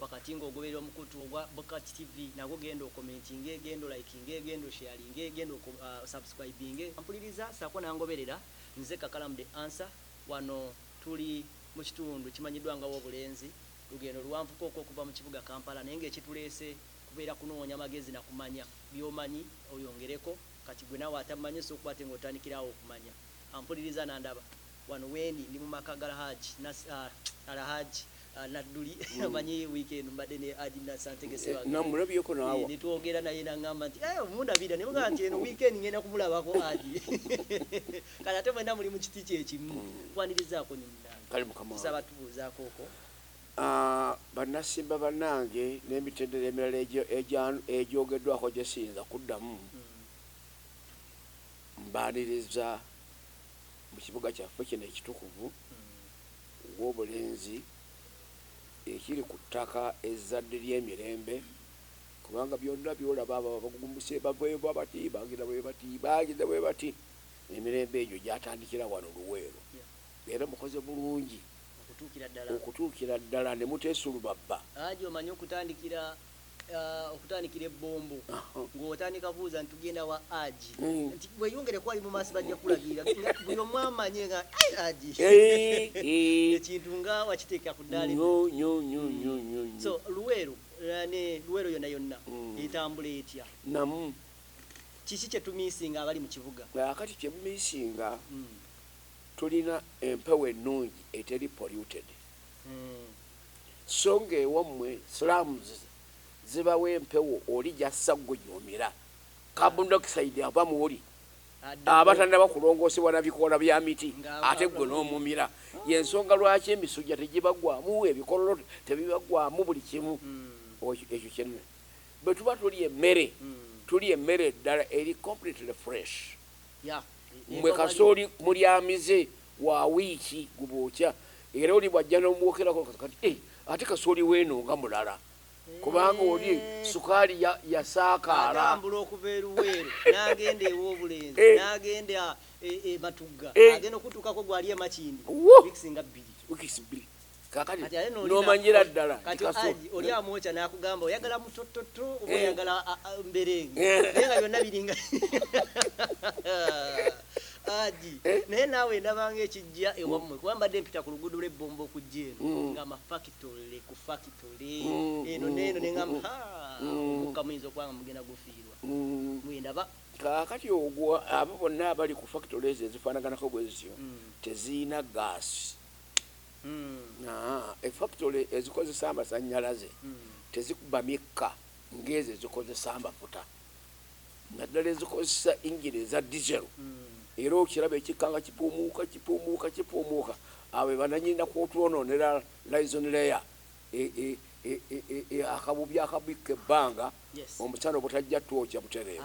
Wakati nga ogoberera omukutu ogwa Bukat TV nagwo genda okomentinge, genda olayikinge, genda osheyalinge, genda o subscribinge. Mpuliriza saako nangoberera nze Kakalamu the answer wano tuli mu kitundu kimanyiddwa nga Wobulenzi. Lugendo luwanvuko okwo okuva mu kibuga Kampala naye nga ekituleese kubeera kunoonya magezi na kumanya byomanyi oyongereko kati gwe naawe atamanyi osobola okuba ate nga otandikira awo okumanya. Ampuliriza nandaba. Wano weni ndi mumaka ga Hajji nasi aah Al Hajji Nadduli omanyi week eno mbadde ne Hajji Nasser Ntege Ssebaggala eeh netwogera naye nangamba nti eeh omundabira nemugamba nti eno week end ngenda kumulabako Hajji kati ate mwena muli mukiti kyekimu nkwanirizaako nyo munange tusaba tubuuzaako oko Aah Bannasimba banange nemitendera emirala egyogeddwako gyesiyinza kuddamu mbaaniriza mu kibuga kyaffe kino ekitukuvu w'obulenzi ekiri ku ttaka ezzadde ly'emirembe kubanga byonna by'olaba abo abagugumbuse bava eyo bwebati bagenda bwebati bagenda bwebati emirembe egyo gyatandikira wano Luweero era mukoze bulungi okutuukira ddala ne muteesulubabba. Haji omanyi okutandikira okutandikira ebbombo ng'otandika buuza nti tugenda wa aji mm. nti weyongere kwali mu maaso bajja kulagirira buli omu amanye nga aji eh, eh. ekintu nga wakiteeka ku ddaali mm. so luweero eh, ne luweero yonna yonna mm. etambula etya namu kiki kyetumisinga abali mu kibuga akati kyemumisinga tulina empewo ennungi eteri polluted So nga ewamwe slums zibawa empewo oli jassa gwe gyomira. Carbon dioxide ava mwoli aba tanaba kulongosebwa na bikoola bya miti ate gwe nomumira. Yensonga lwaki emisujja tejibagwamu, ebikololo tebibagwamu buli kimu. Ekyo kye bwetuba tulya emmere tulya emmere ddala eri completely fresh. Mwe kasooli mulyamize wa wiiki gubookya era oli bw'ajja n'omwokerako kati eh, ate kasooli w'eno nga mulala kubanga oli sukaali yasaakaala atambula okuva eruweero n'agenda ew'obulenzi eh. n'agenda ematugga eh, eh, agenda okutuukako gwali emakindi wikisinga bbiri kakati nomanyira ddala kati aji oli amwoca nakugamba oyagala mutototo oba eh. oyagala mberenge eh. naye nga byonna biringa aji eh? naye naawe ndabanga ekijja ewammwe mm. kuba mbadde mpita ku luguudo lwebbomba okujja eno mm. nga mafakitole ku fakitole mm, eno neeno nengamba omukka muyinza okubanga mugenda gufiirwa mwendaba kakati ogwo abo bonna abali ku fakitole ezo ezifaanaganako bwezityo tezirina gaasi Effakitole ezikozesa amasannyalaze tezikuba mikka ng'ezo ezikozesa amafuta naddala ezikozesa yingini eza dizero era okiraba ekikka nga kipuumuuka kipuumuuka kipuumuuka. Abo be banannyini na kw'otwonoonera lizoni leya, akabubi akabikka ebbanga omusana obutajja twokya butereevu.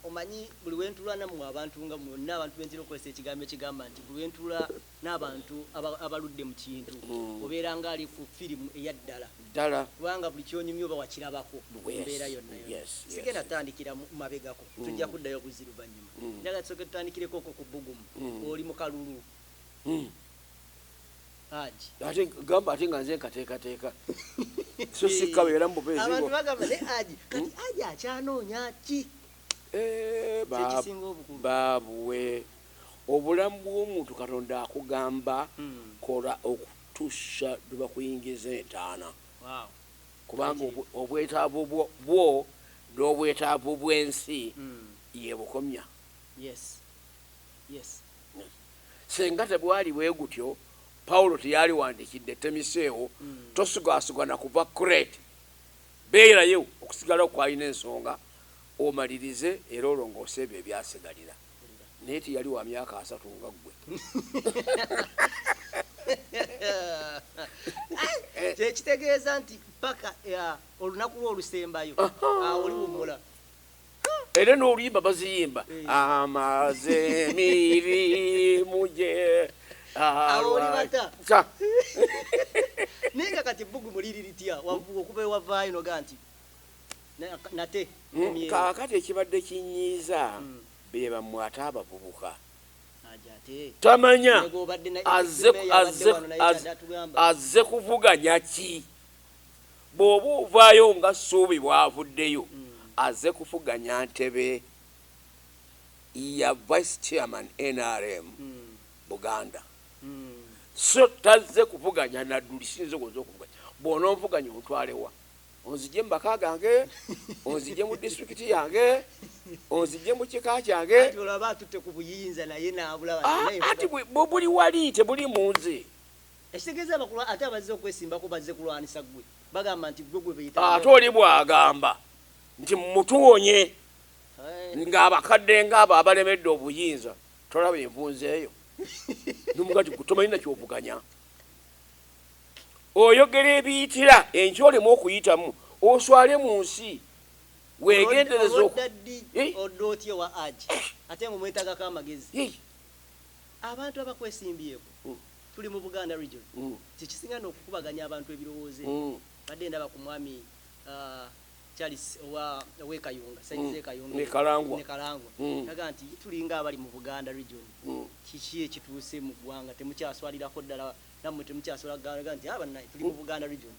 Omanyi, buli we ntuula nammwe abantu, nga mwenna abantu be ntera okukozesa ekigambo ekigamba nti, buli lwe ntuula n'abantu aba, abaludde mu kintu, obeera nga ali ku firimu eya ddala. Ddala. Kubanga buli ky'onyumya oba wakirabako, mu mbeera yonna yonna. Yes, yes. Sigenda tandikira mu, mabegako. Tujja kuddayo buzzi luvannyuma. Njagala tusooke tutandikireko okwo ku bbugumu. Oli mu kalulu. ate gamba ate nga nze nkateekateeka so sikkabeera mu bubeezi abantu bagamba ne aji kati hmm? aji akyanoonya ki eh, kyekisinga obukulu baabuwe obulamu bw'omuntu katonda akugamba hmm. kola okutuusa lwe bakuyingiza entaana kubanga obwetaavu bwo n'obwetaavu bw'ensi hmm. yebukomya yes yes Singa tegwali bwe gutyo, Pawulo teyaliwandiikidde, Temiseewo, tosugaasuga na kuva Kureete. Beerayo okusigalawo kwalina ensonga, omalirize era olongoose ebyo ebyasigalira. Naye teyali wa myaka asatu nga ggwe. Kye kitegeeza nti ppaka olunaku lwo olusembayo, awo oliwummula. era n'oluyimba baziyimba amaze mirimu gye alwata naye nga kati bbugu muliri litya okuva ewavaayo noga nti nate mm, kaakati ekibadde kinyiiza mm. be bamwe ate abavubuka tamanya azze kuvuganya ki Bwoba ovaayo nga Ssuubi bwavuddeyo azze kufuganya ntebe ya Vice Chairman nrm Buganda so tazze kuvuganya Nadduli siyinza owoza okuvuganya bwononvuganya ontwale wa? Onzijje mu maka gange? Onzijje mu District yange? Onzijje mu kika kyange? Anti olaba atutte ku buyinza naye nabulaba naye nfuganya. Anti buli wali tebuli munze. Ekitegeeza abakulwa ate abazze okwesimbako bazze kulwanisa ggwe. Bagamba nti ggwe gwe beetaaga. Ate oli bw'agamba nti mmutuwonye ng'abakadde ng'abo abalemedde obuyinza tolaba envunza eyo? N'omuga nti ggwe tomanyi na ky'ovuganya. Oyogera ebiyitira enkya oleme okuyitamu oswale mu nsi. Weegendereze oku. Olwodda ddi Hii. odda otya ewa Hajj ate ng'omwetaagako amagezi? Hii. Abantu abakwesimbyeko. tuli mu Buganda region kyekisinga no kukubaganya abantu ebirowoozo ebyo mbadde ndaba ku mwami Charles owa owe Kayunga side ze Kayunga ne Kalangwa ne Kalangwa naga nti tulinga abali mu Buganda region kiki ekituuse mu ggwanga temukyaswalirako ddala namwe temukyaswala galaga nti aba naye tuli mu Buganda region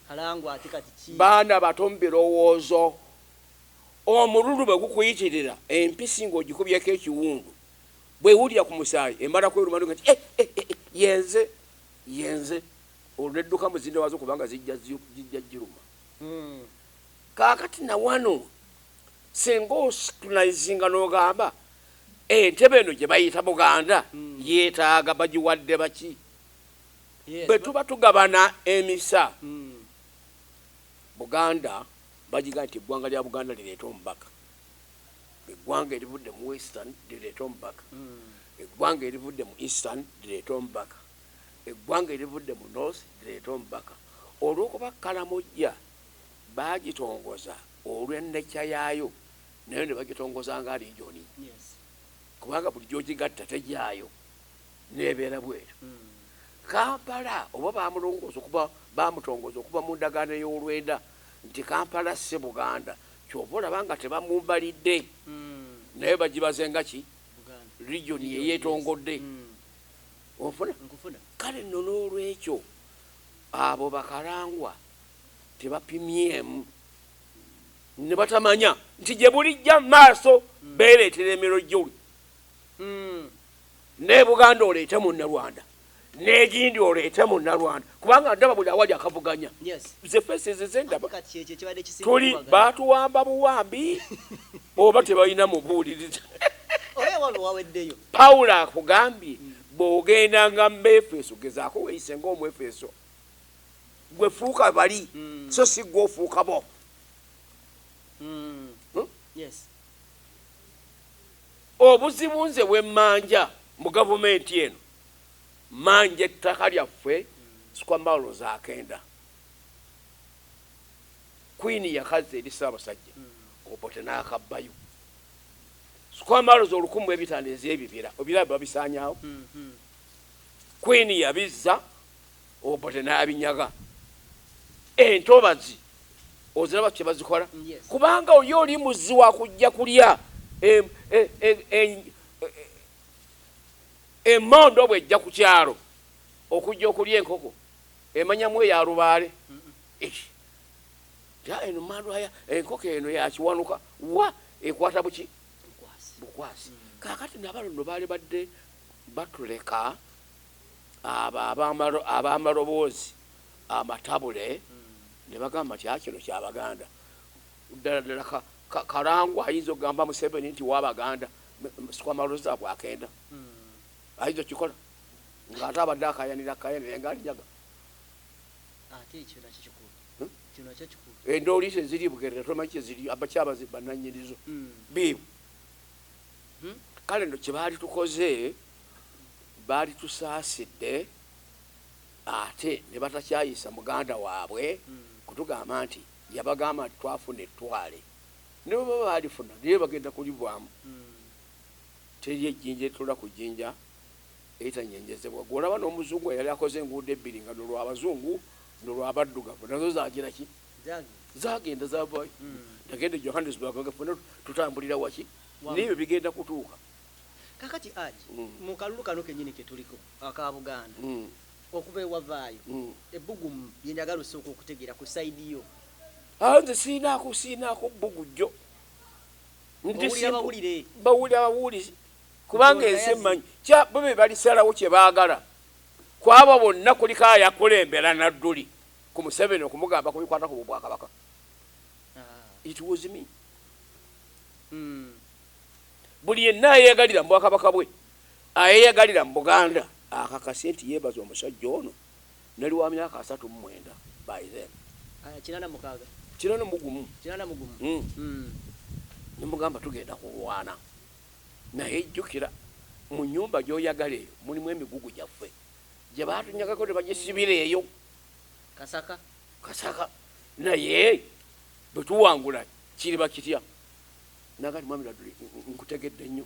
Kalangwa ate kati ki baana bato mu birowoozo omululu bwe gukuyitirira empisi ng'ogikubyeko ekiwundu Bw'ewulira ku musaayi emala kweruma nga nti, Eh, eh, eh, eh, ye nze! Ye nze! Olwo n'edduka mu zinne waazo kubanga zijja zi, zijja giruma. Kaakati na wano singa oscrutinizinga n'ogamba, Entebe eno gye bayita Buganda yeetaaga bagiwadde baki? Yes, Bwe ba- tuba tugabana emisa, Buganda bagigamba nti eggwanga lya Buganda lireete omubaka. eggwanga erivudde mu western lireete omubaka, eggwanga erivudde mu eastern lireete omubaka, eggwanga erivudde mu north lireete omubaka. Olw'okuba Karamojja baagitongoza olw'ennecha yaayo, nayo ne bagitongoza nga liijoni, kubanga buli gy'ogigatta tegyayo n'ebeera bw'etyo. Kampala oba baamulongoosa okuva, baamutongoza okuva mu ndagaano ey'olwenda nti Kampala si Buganda. Kyova olaba nga tebamumbalidde naye bagibaze nga ki region yeyetongodde onfuna kale nno n'olwekyo abo bakalangwa tebapimyemu ne batamanya nti gye bulijja maaso beereetera emirojoli ne buganda oleete munnarwanda negindi oleete munalwanda kubanga ndaba buli awali akavuganya zefesizizendabtuli batuwamba buwambi oba tebalina mubuuliriza pawulo akugambye mm. bwogenda nga muefeso gezaako weyise nga omuefeso gwefuuka bali mm. so si gwe ofuuka bo mm. hmm? obuzibu nze bwemmanja mu gavumenti eno manja ettaka lyaffe squamalo zakenda queen yakazza eri ssaabasajja obote n'akabbayo squamalo zolukumu ebitano ez'ebibira obiraba babisaanyawo queen yabizza obote n'abinyaga entobazi oziraba kye bazikola kubanga oli oli muzzi wakujja kulya e, e, e, Emmondo bw'ejja ku kyalo okujja okulya enkoko, emanyamu eya lubaale. Eish! Tya eno mmandwa ya enkoko eno ya Kiwanuka. Wa! Ekwata buki? Bukwasi. Kaakati na bano nno baalibadde batuleka, abo ab'amalo, ab'amaloboozi amatabule, ne bagamba nti, Haa kino kya Baganda. Ddala ddala ka, ka, Karangwa ayinza okugamba Museveni nti wa Baganda. sikwama loza bwakenda hmm. ayinza okikola ngaate abadde akayanira kaya naye nga alinyaga endooli hmm? eh, ze ziri bugerera tomanyi kyeziri abakyabazi bananyinizo hmm. biibu kale no kyebaali tukoze baali tusaasidde ate ne batakyayisa muganda waabwe kutugamba nti yabagamba nti twafuna ettwale ne bwe baba baalifuna naye bagenda kulibwamu. Teri ejjinja erituula ku jjinja eritanyeenyezebwa. Ggwe olaba n'Omuzungu eyali akoze enguudo ebbiri nga luno lwa Bazungu luno lwa Baddugavu nazo zaagira ki? Zaagenda zaavaayo ne genda e Johannesburg nga ffenna tutambulira waki? N'ebyo bigenda kutuuka. Kaakati Haji, mu kalulu kano kennyini ke tuliko aka Buganda, okuva ewavaayo ebbugumu lye njagala osooke okutegeera ku sayidi yo. Awo nze sirinaako sirinaako bbugu jjo. Bawulira bawulire. Bawulira bawulizi kubanga ensi emmanyi kya bo be balisalawo kye baagala. Ku abo bonna kuliko ayakulembera Nadduli ku Museveni okumugamba ku bikwata ku Bwakabaka. It was me. Buli yenna ayeeyagalira mu Bwakabaka bwe, ayeeyagalira mu Buganda akakase nti yeebaza omusajja ono. Nali wa myaka asatu mu mwenda by then. Aya kinana mukaga. Kinana mu gumu. Kinana mu gumu. Mm. Mm. Ne mugamba tugenda kulwana. Naye jukira mu nyumba gyoyagala eyo mulimu emigugu gyaffe. Gye batunyagako ne bagisibira eyo. Kasaka. Kasaka. Naye bwe tuwangula kiriba kitya? Naga ni mwami Laduli nkutegedde nnyo.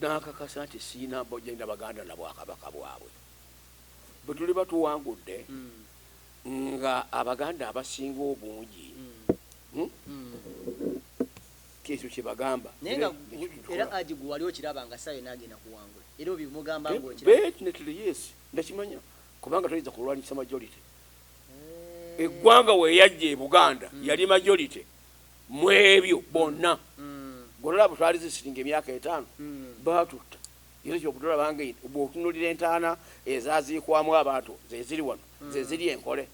n'akakasa nti sirina mbojja na Baganda na Bwakabaka bwabwe. Bwe tuliba tuwangudde nga Abaganda abasinga obungi kyekyo kye bagamba. Naye nga era Haji gwe wali okiraba nga ssaawa yonna agenda kuwangula era obimugamba ng'okiraba? Definitely yes, ndakimanya kubanga toyinza kulwanyisa majority. Eggwanga we yajja e Buganda yali majority. mwebyo bonna golaba bwetwali zisitinga emyaka etaano batutta era kyokutulaba nga bwotunulira entaana ezaziikwamu abantu zeziri wano zeziri enkole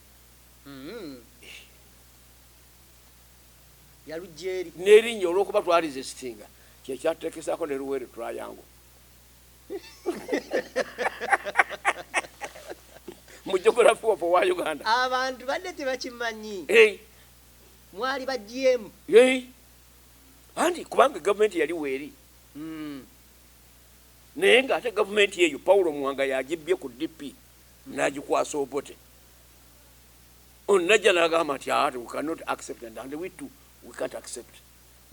nerinnya olwokuba twali zisitinga kyekyatutekesako ne luwere tulayangu mu geography of wa uganda abantu badde tebakimanyi mwali bagyemu Yee anti kubanga gavumenti yali weeri naye nga ate gavumenti eyo Paulo Muwanga y'agibbye ku DP n'agikwasa Obote ono n'ajja n'agamba nti aa we cannot accept and and we too we can't accept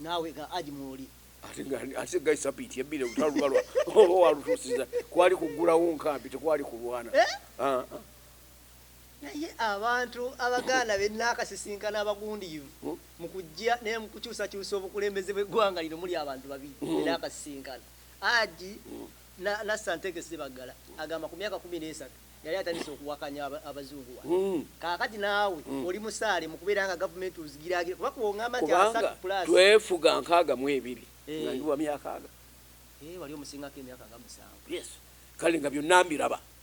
naawe nga Haji mw'oli. ate nga ate guy sabiiti ebbiri olutalo luba lwa oba walutuusiza kwali kuggulawo nkambi tekwali kulwana Eh? Ah, ah. Naye abantu Abaganda be nnaakasisinkana abagundiivu mu kuggya ne mu kukyusakyusa obukulembeze bw'eggwanga lino muli abantu babiri be nnaakasisinkana. Haji Nassantege Ssebaggala agamba ku myaka kkumi n'esatu yali atandise okuwakanya Abazungu wano. Kaakati naawe oli musaale mu kubeera nga gavumenti ozigiraagira kuba kw'ongamba nti asatu pulaasi. Kubanga twefuga nkaaga mu ebiri nga ndi wa myaka aga. Hee wali omusingako emyaka nga musanvu. Yes. Kale nga byonna mbiraba.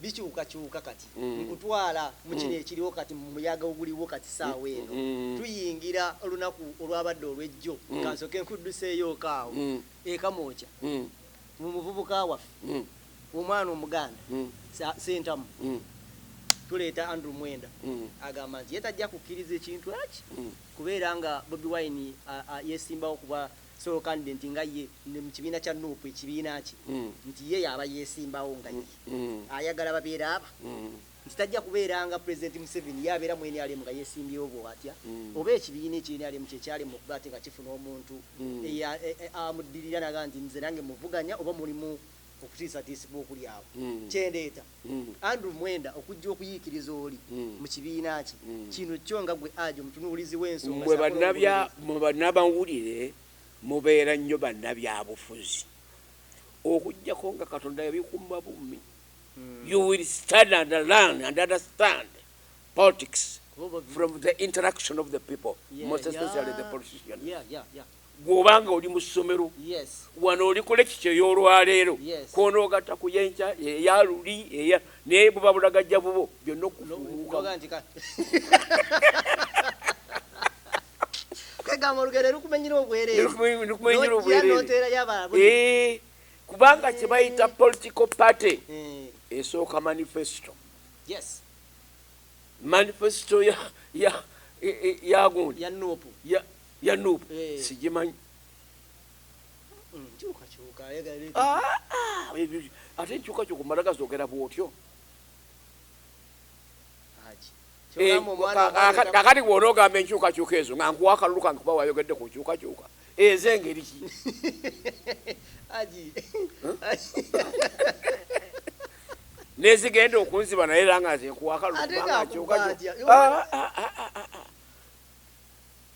bikyukakyuka kati mm. nkutwala mu kino mm. ekiriwo kati mu muyaga oguliwo kati saawa mm. eno mm. tuyingira olunaku olwabadde olwejjo mm. kansoke nkudduseeyoko awo mm. ekamwokya mm. mu muvubuka waffe mm. omwana omuganda mm. sentamu mm. tuleeta andrew mwenda mm. agamba nti ye tajja kukkiriza ekintu eki mm. kubeera nga bobi wine yesimbawo kuba Solo candident nga ye ne mu kibiina kya Nup ekibiina kye nti ye y'aba yeesimbawo nga ye ayagala babeere aba nti tajja kubeera nga Pulezidenti Museveni ye abeera mu nrm nga yeesimbyewo bw'atya oba ekibiina ekyo nrm kye kyalema okuba ate nga kifuna omuntu ea amuddirira n'agamba nti nze nange muvuganya oba mulimu okutiisatiisibwa okuli awo. Kye ndeeta, Andrew Mwenda, okujja okuyiikiriza oli mu kibiina kye kino kyo nga gwe Ajo omutunuulizi w'ensonga Mmwe ssaako bannabya, n'omulondoozi. mmwe bannamawulire mubeera nnyo bannabyabufuzi okuggyako nga Katonda yabikuuma bummi. You will study and learn and understand politics Kuba oba- from the interaction of the people, Yeah, most especially the yeah, politicians. yeah, yeah, yeah. Ggwe oba nga oli mu ssomero, wano oli ku lekikyo ey'olwaleero, kw'onoogatta ku y'enkya, eya luli, eya naye buba bulagajja bubwo, byonna okufuumuukamu. Kwegamba olugero lukumenyera obwereere, lukumenyera obwereere, n'oteerayo abalala. Eh, kubanga kye bayita political party eh. esooka manifesto. Yes. Manifesto ya ya ya gundi ya nuupu ya ya nup eh. sigimanyi mm, ah, ah, ate enkyukakyuka omala gazogera bwotyo eh, akati gwona ogamba enkyukakyuka ezo nga nkuwa akalulu kange kuba wayogedde ku nkyukakyuka ezo engeri ki nezigenda okunziba naye era nga nze nkuwa akalulu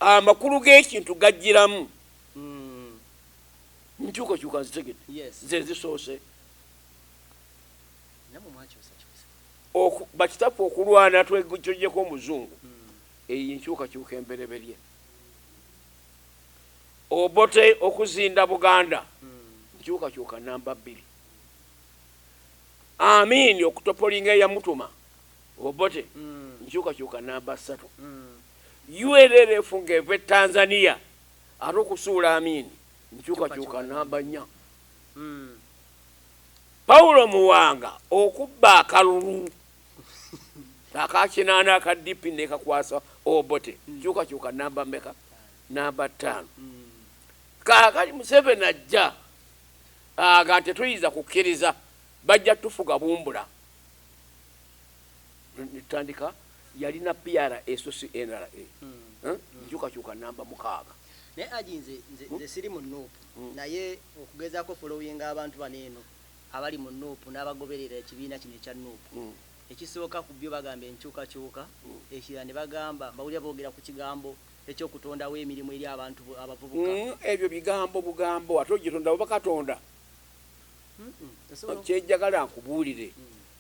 Amakulu g'ekintu gajjiramu. Enkyukakyuka nzitegedde, ze zisoose. Oku, bakitaffe okulwana tweggyeko Omuzungu, eyo y'enkyukakyuka embereberye. Obote okuzinda Buganda, nkyukakyuka nnamba bbiri. Amin okutopolinga eyamutuma, Obote, nkyukakyuka nnamba ssatu. UNLF nga eva e Tanzania ate okusuula Amin nkyukakyuka namba nnya. Paulo Muwanga okubba akalulu aka kinaana aka DP nekakwasa Obote nkyukakyuka namba meka? Namba ttaano. Kaakati Museveni ajja aga tetuyinza kukkiriza bajja tufuga bumbula. netutandika yalina PRA so si NRA nkyukakyuka namba mukaaga naye aji nze nze hmm? nze siri mu nup hmm. naye okugezaako following abantu bano eno abali mu nup n'abagoberera ekibiina kino ekya nup hmm. ekisooka ku byo bagamba enkyukakyuka ekirala ne bagamba bawulira boogera ku kigambo ekyokutondawo emirimu eri abantu abavubuka ebyo bigambo bugambo ate ogitondawo bakatonda kyejjagala nkubuulire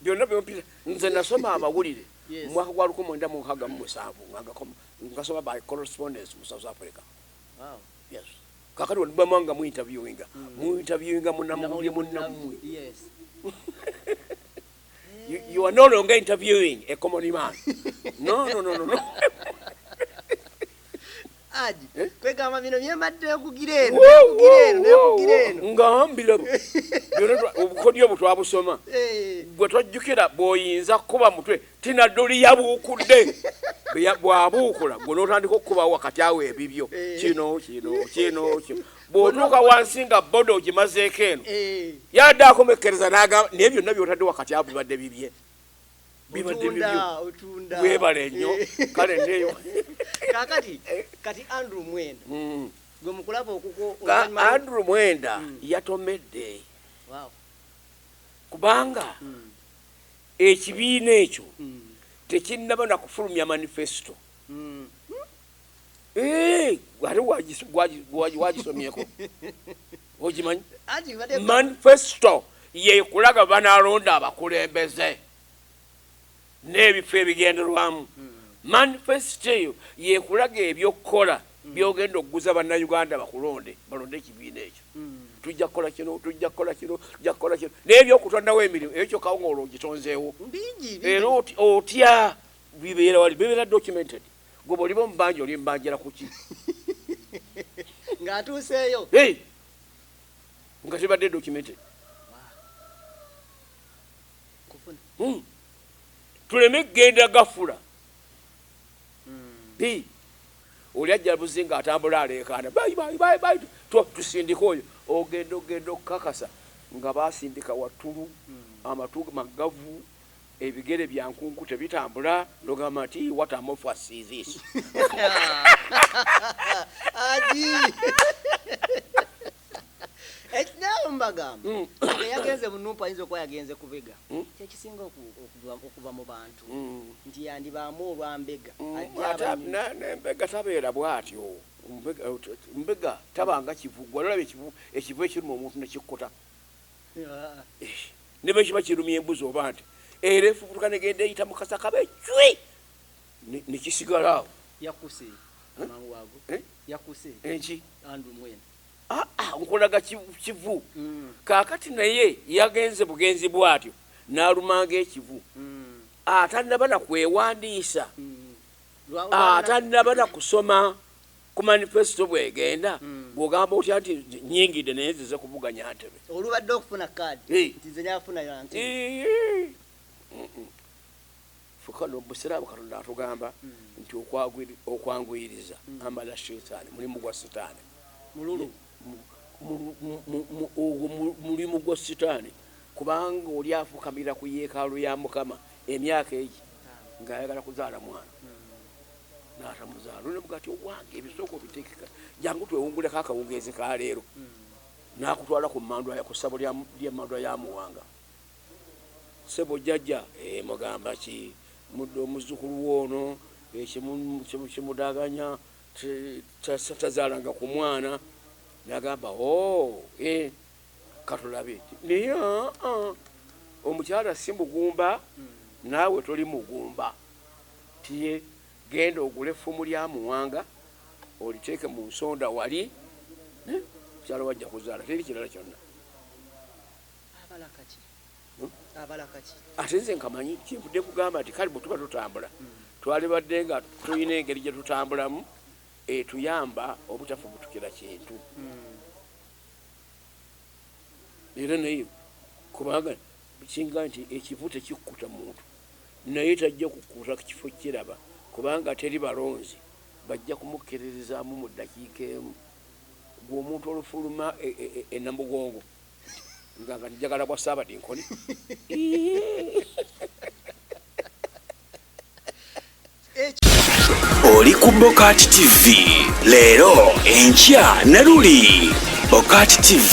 byonna byompita nze nasoma amawulire mu mwaka gwa lukumi mwenda mu nkaaga mu musanvu ngagakoma ngasoma by correspondence mu south africa yes kakati walibamu nga mu interviewinga hmm. mu interviewinga munamawulire munammwe you, you are no longer interviewing a common man no no no no, no. Aji, eh? kwegamba bino byembadde okugira eno okugira eno nekugira eno nga mbira obukodyo obwo twabusoma eh. gwe twajjukira bw'oyinza kukuba mutwe tinadoli yabuukudde bwabuukula gwe n'otandika okukuba wakati awo ebibyo eh. kino kino kino kino bw'otuuka wansi nga boda ogimazeeko eno yadde akomekkereza n'agamba naye byonna by'otadde wakati awo bibadde bibye bibadde bibyo webale nnyo eh. kale neyo kakati eh. kati andrew mwenda mm. gwe mukulaba okuko andrew mwenda mm. yatomedde wow. kubanga mm. ekibiina ekyo mm. tekinnaba nakufulumya manifesto gwagisomyeko okimanyi manifesto yekulaga banalonda abakulembeze n'ebifo ebigenderwamu hmm. manifesto eyo yekulaga ebyokukola hmm. byogenda okuguza bannayuganda bakulonde balonde ekibiina ekyo hmm. tujja kukola kino tujja kukola kino tujja kukola kino n'ebyokutondawo emirimu ekyo kawunga olwo ogitonzeewo era otya bibeera wali bibeera documented gwe bwoliba omubanja oli mbanjira kuki ng'atuuseeyo nga tebadde documented hmm. tuleme kugenda gafula hmm. oli ajja buzi nga atambula aleekaana tusindika oyo ogenda ogenda okukakasa nga basindika wattulu hmm. amatu magavu ebigere bya nkunku tebitambula nogamba nti what a mofas is this adi ekinawe mubagamba mm. eyagenze munumpa ayinza okuba yagenze kubega mm. kyekisinga okuva mu bantu mm. nti yandibaamu olwambega nembega tabeera bwatyo mbega tabanga kivugwa nolaba ekivu ekiruma omuntu nekikkuta ne bwe kiba kirumya embuzi oba nti era efubutuka negenda eyita mu kasaka be cwi ne kisigala awo yakuse amangu ago eh? yakuse enki andrew mwene ah, ah, nkulaga kivu mm. kakati naye yagenze bugenzi bwatyo nalumanga ekivu mm. atanaba nakwewandiisa mm. atanaba nakusoma Ku manifesto bwegenda bwogamba otya nti nyingide naye nzize kuvuganya ntebe. Olubadde okufuna card nti nze nafuna ya ntebe. Ffe kano mubusiraamu katonda atugamba nti okwanguyiriza amala shaytan mulimu gwa sitani. Mululu. Ogwo mulimu gwa sitani kubanga oli afukamira ku yekaalu ya mukama emyaka egi nga ayagala kuzaala mwana. n'atamuzaala nolabga ti owange ebisooka obitekeka jangu twewunguleko akawungeezi ka leero hmm. n'akutwala ku mandwa ku ssabo lyemandwa ya muwanga sebo jjajja eh, mugamba ki mudde omuzzukulu woono eh, kimudaganya tazaalanga ku mwana nagamba o oh, eh, katulabe naye ah, ah, omukyala si mugumba hmm. naawe toli mugumba Tiye genda ogule effumu lya muwanga oliteeke mu nsonda wali eh mukyala wo ajja kuzaala teri kirala kyonna. Abala kaki? Hmm? Abala kaki? Ate nze nkamanyi kyenvudde kugamba nti kale bwe tuba tutambula hmm. twalibadde nga tulina engeri gye tutambulamu etuyamba obutafubutukira kintu hmm. era naye kubanga Ekisinga nti ekivu tekikkuta muntu naye tajja kukkuta kifo kukiraba kubanga teri balonzi bajja kumukkiririzaamu mu ddakiika emu. Ggwe omuntu olufuluma e Namugongo nga nga njagala bwa Ssaabadinkoni Oli ku Bokaati TV leero enkya ne luli Bokaati TV.